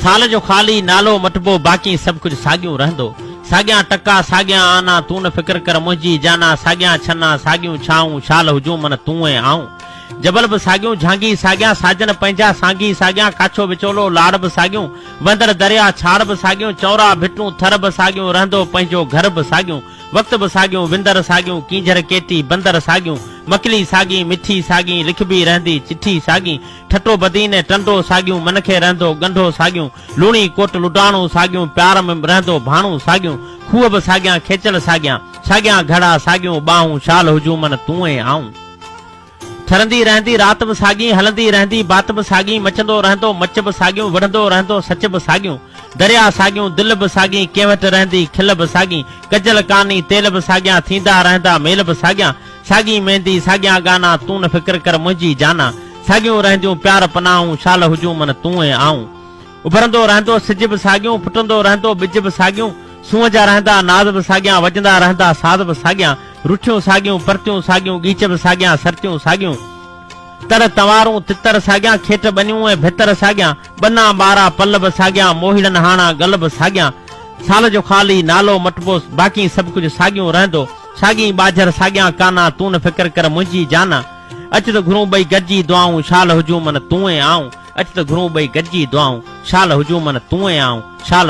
سال جو خالي نالو مٽبو باقي سڀ ڪجهه ساڳيون رهندو ساڳيان ٽڪا ساڳيان آنا تون نه فڪر ڪر منهنجي جانا ساڳيان ڇنا ساڳيون ڇانهون شال هجون من تون ۽ آئون جبل به ساڳيون جهانگي ساڳيان ساجن پنهنجا سانگي ساڳيان ڪاڇو وچولو لاڙ به ساڳيون وهندڙ درياهه ڇاڙ به ساڳيون چؤرا ڀٽون ٿر به ساڳيون رهندو پنهنجو گهر به ساڳيون وقت به ساڳيون وندر ساڳيون ڪينجهر ڪيٽي بندر ساڳيون مڪلي ساڳي مٺي ساڳي لکبي رهندي چٺي ساڳي ٺٽو بدين ۽ ٽنڊو ساڳيون، من کي رهندو ڳنڍو ساڳيون، لوڻي ڪوٽ لڊاڻو ساڳيون، پيار ۾ رهندو ڀاڻو ساڳيون، کوهه به ساڳيان کيچل ساڳيان، ساڳيان گهڙا ساڳيون ٻانهون، شال هجون من تون ۽ آئون. ٺرندي رهندي رات به ساڳي، هلندي رهندي بات به ساڳي، مچندو رهندو مچ به ساڳيون، وڙهندو رهندو سچ به ساڳيون، درياهه ساڳيون دل به ساڳي، ڪنهن وٽ رهندي کل به ساڳي، ڪجل ڪاني تيل به ساڳيان، ٿيندا رهندا ميل به ساڳيان، ساڳي ميندي ساڳيان گانا تون نه فڪر ڪر منهنجي جانا ساڳيون رهنديون پيار پناهون شال هجون من تون ۽ آئون اڀرندو رهندو سج به ساڳيون ڦٽندو رهندو ٻج به ساڳيون سونهن جا رهندا ناز به ساڳيان وڄندا رهندا ساز به ساڳيان رٺيون ساڳيون پرتيون ساڳيون ڳيچ به ساڳيان سرتيون ساڳيون تر تنوارون تتر ساڳيان کيٽ ٻنيون ۽ ڀتر ساڳيان ٻنا ٻارا پل به ساڳيان موهيڙن هاڻا ڳل به ساڳيان سال جو خالي نالو مٽبو باقي سڀ ڪجهه ساڳيون رهندو ساڳين ٻاجهر ساڳيان ڪانا، تون نه فڪر ڪر منهنجي جانا، اچ ته گهرون ٻئي گڏجي دعائون، شال هجون من تون ۽ آئون، اچ ته گهرون ٻئي گڏجي دعائون، شال هجون من تون ۽ آئون، شال.